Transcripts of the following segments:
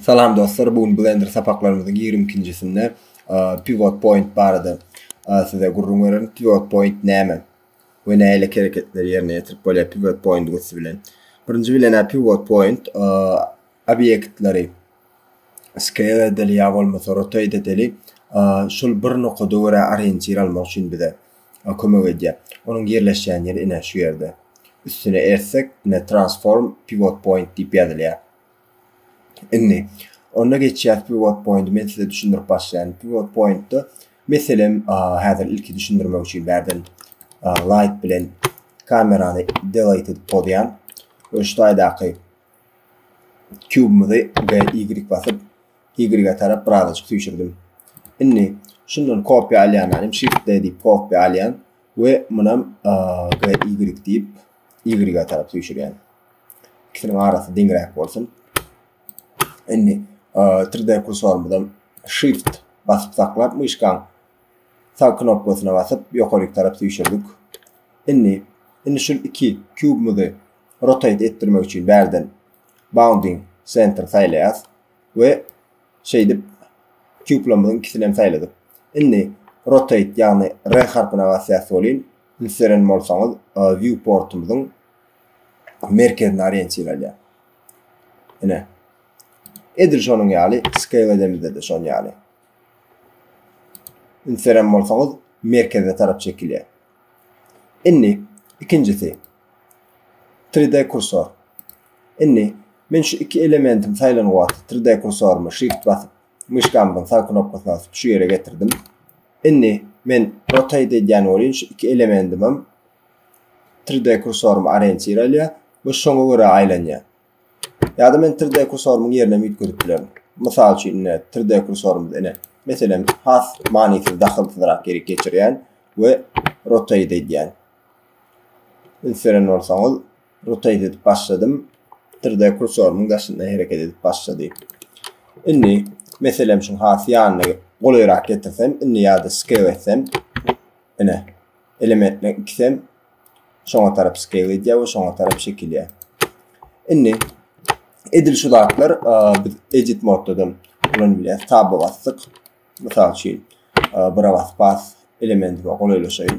Salam dostlar, bu gün Blender sapaklarymyzyň 22-njisinde pivot point barada size gürrüň bererin. Pivot point näme? We näle hereketleri ýerine ýetirip bolýar pivot point üsti bilen? Birinji bilen pivot point obýektleri Scale edeli ýa bolmasa rotate edeli şul bir nokada görä orientir almak üçin bize kömek edýär. Onuň ýerleşýän ýeri ine şu ýerde. Üstüne ersek ine transform pivot point diýip ýazylýar. Indi onda geçýäs pivot pointi men size düşündirip başlaýan. Pivot pointda meselem häzir ilki düşündirmek üçin bärden light bilen kamerany delete edip pozýan. Öştaýdaky Kubymyzy B, Y basyp, Y-e tarap birazajyk süýşürdim. Indi şundan kopýa alýan alim, Shift D diýip kopýa alýan we munam G, Y diýip Y-e tarap süýşürýän. Ikisiniň arasy deňräk bolsun. Indi 3D kursorymyzam Shift basyp saklap, myşkaň sag knopkasyna basyp, ýokaryk tarap süýşürdik. Indi, indi şul iki kubymyzy rotate etdirmek üçin bärden bounding center saýlaýas we şeýdip kublamyň ikisini hem saýladyk. Indi rotate ýagny R harpyna basýas welin siz seren bolsaňyz view portumyzyň merkezine orientiralýar. Ine. Edil şonuň ýaly scale edemizde-de şonuň ýaly. Indi seren bolsaňyz merkeze tarap çekilýär. Indi ikinjisi 3D kursor. Indi men şu iki elementim saýlan wagt 3D kursorymy shift basyp, myşkamyň sag knopkasyny basyp şu ýere getirdim. Indi men rotate edýän welin şu iki elementim hem 3D kursorymy orientir alýar we şoňa görä aýlanýar. Ýa-da men 3D kursorymyň ýerine hem üýtgedip bilerin. Mysal üçin indi 3D kursorymyzy ine meselem has manysyz dahylsyzrak ýeri geçirýän we rotate edýän. Üns beren bolsaňyz, rotate edip başladym. 3D kursorymyň daşynda hereket edip başlady. Indi meselem şu has ýanyna golaýrak getirsem, indi ýa-da scale etsem, ine elementine ikisem şoňa tarap scale edýär we şoňa tarap çekilýär. Indi edil şu zatlar biz edit moddadan ulanyp bilýäris. Taba basdyk. Mysal üçin, bura basyp bas elementi golaýlaşaýyn.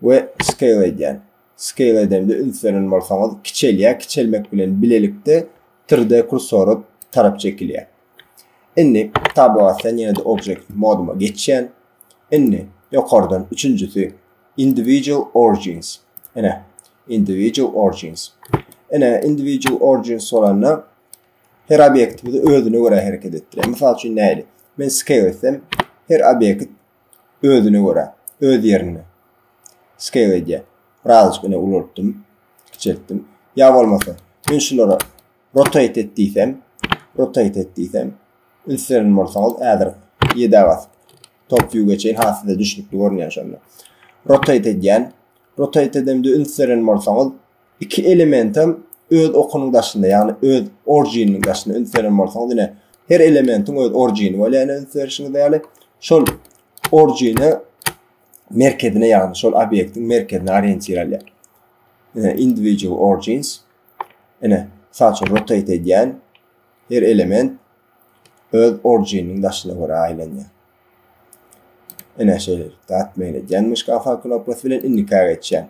we scale edýän. Scale edende üns beren bolsaňyz kiçelýär, kiçelmek bilen bilelikde 3D kursora tarap çekilýär. Indi tablo asýan ýene-de object moduma geçýän. Indi ýokardan üçünjisi individual origins. Ene individual origins. Ene individual origins bolanda her obýektimizi özüne görä hereket etdirýär. Mysal üçin näli? Men scale etsem her obýekt Özüne görä, öz ýerinde. Scale edýär. Birazajyk ine ulaltdym, kiçeltdim. Ýa bolmasa, men şulara rotate et diýsem, rotate et diýsem, ünslerin bolsaňyz, häzir 7 basyp top view geçeýin, ha size düşnükli görünýär şonda. Rotate edýän. Rotate edemde ünslerin bolsaňyz, iki elementem öz okunyň daşynda, ýagny öz orijininiň daşynda üns beren bolsaňyz, ine her elementiň öz orijini bolýar, ýagny üns berişiňiz ýaly şol orijine merkezine, ýagny şol obýektiň merkezine orientir alýar. Ine individual origins. Ine, saçy rotate edýän her element öz orijininiň daşyna görä aýlanýar. Ine şeýle, dat meýil edýän muşka knopkasy bilen indika geçýär.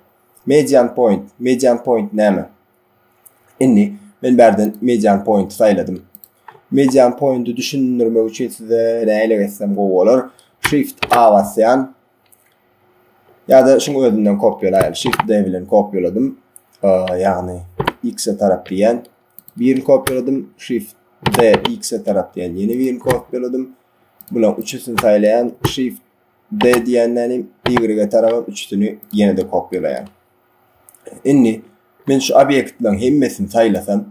Median point, median point näme? Indi men bärden median point saýladym. Median pointi düşündirmek üçin size näle geçsem gowy bolar. Shift A basýan. Ýa-da şuň özünden kopýalaýan. Shift D bilen kopýaladım. Ýagny X-e tarap diýen. Birini kopýaladım. Shift D X-e tarap diýen. Ýene birini kopýaladım. Bular üçüsini saýlaýan. Shift B diýenden hem Y-e tarap üçüsini ýene-de kopýalaýan. Indi men şu obýektleriň hemmesini saýlasam,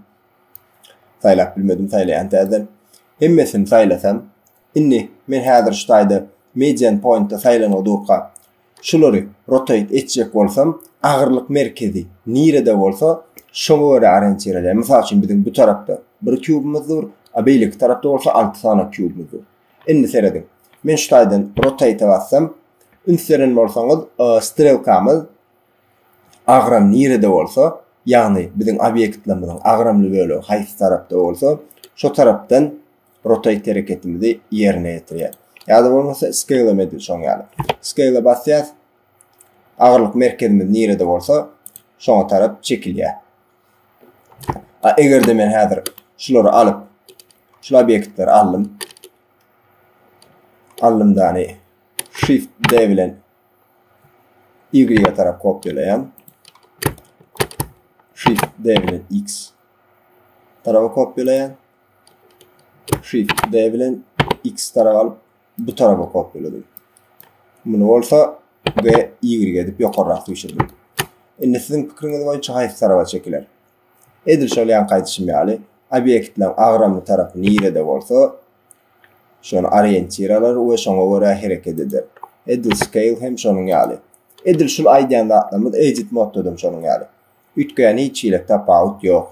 saýlap bilmedim, saýlaýan täzeden. Hemmesini saýlasam, indi men häzir şu taýda median point-da saýlanyp durka, şulary rotate etjek bolsam, agyrlyk merkezi nirede bolsa, şoňa görä orientirleýan. Mysal üçin, biziň bu tarapda bir kubymyz dur, a beýleki tarapda bolsa alty sany kubymyz dur. Indi serediň. Men şu taýdan rotate-e bassam, üns beren bolsaňyz, strelkamyz agram nirede bolsa, ýagny biziň obýektlerimiziň agramly bölegi haýsy tarapda bolsa, şo tarapdan rotate hereketimizi ýerine ýetirýär. Ýa-da bolmasa scale-em edil şoň ýaly. Scale-e basýas, agyrlyk merkezimiz nirede bolsa, şoňa tarap çekilýär. A egerde men häzir şulary alyp, şul obýektleri aldym. Aldym dany Shift D bilen Y-a tarap kopýalaýan. Shift D bilen X tarapa kopýalaýan. Shift D bilen X tarap alyp bu tarapa kopyladyk. Muny bolsa B, Y edip ýokarrak düşürdik. Indi siziň pikiriňiz boýunça haýsy tarapa çekiler? Edil şol ýanky aýdyşym ýaly, obýektleriň agramly tarapy nirede bolsa, şony oriýentir alar we şoňa görä hereket eder. Edil scale hem şonuň ýaly. Edil şul aýdýan zatlarymyz edit modda-da şonuň ýaly. Üýtgeýän hiç hili tapawut ýok.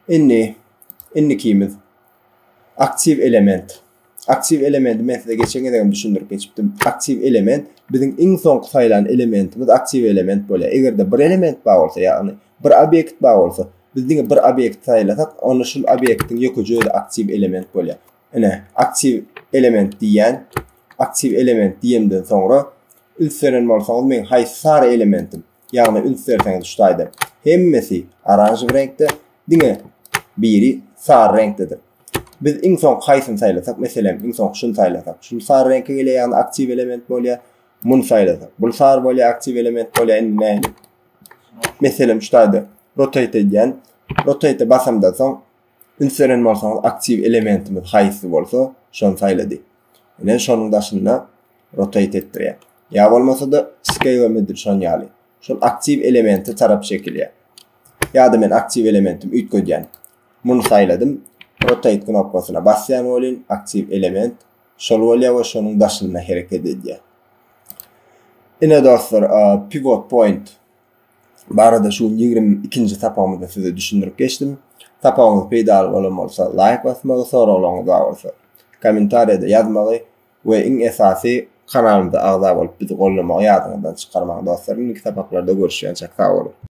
Indi Indikimiz aktiw element. Aktiw elementi men size geçen gezegem düşündirip geçipdim. Aktiw element biziň iň soňky saýlan elementimiz aktiw element bolýar. Eger-de bir element bar bolsa, ýagny bir obýekt bar bolsa, biz diňe bir obýekt saýlasak, onda şul obýektiň ýökeje özi aktiw element bolýar. Ine, aktiw element diýýän. Aktiw element diýemden soňra üns beren bolsaňyz, meň haýsy sary elementim? Ýagny üns berseňiz şu taýda hemmesi oranžowy reňkde, diňe biri sary reňkdedir. Biz iň soňky haýsyny saýlasak, meselem, iň soňky şuny saýlasak, şuny sary reňke gelýär, ýagny aktiw element bolýar. Muny saýlasak, bul sary bolýar, aktiw element bolýar. Indi nähili? Meselem, şu taýda rotate edýän. Rotate basamdan soň Üns beren bolsaňyz, aktiw elementimiz haýsy bolsa, şony saýlady. Ine, şonuň daşynda rotate etdirýär. Ýa bolmasa-da, scale midir şon ýaly. Şol aktiw elemente tarap çekilýär. Ýa-da men aktiw elementim üýtgedýän. Muny saýladym. Rotate knopkasyna basýan welin, aktiw element şol bolýar we şonuň daşynda hereket edýär. Ine dostlar, pivot point barada şu ýigrimi ikinji sapagymyzda size düşündirip geçdim. Sapagymyz peýdaly bolan bolsa, laýk basmagy, soraglaryňyz bar bolsa, kommentariýada ýazmagy we iň esasy kanalymyza agza bolup bizi gollamagy ýadyňyzdan çykarmaň dostlar. Indiki sapaklarda görüşýänçäk sag boluň.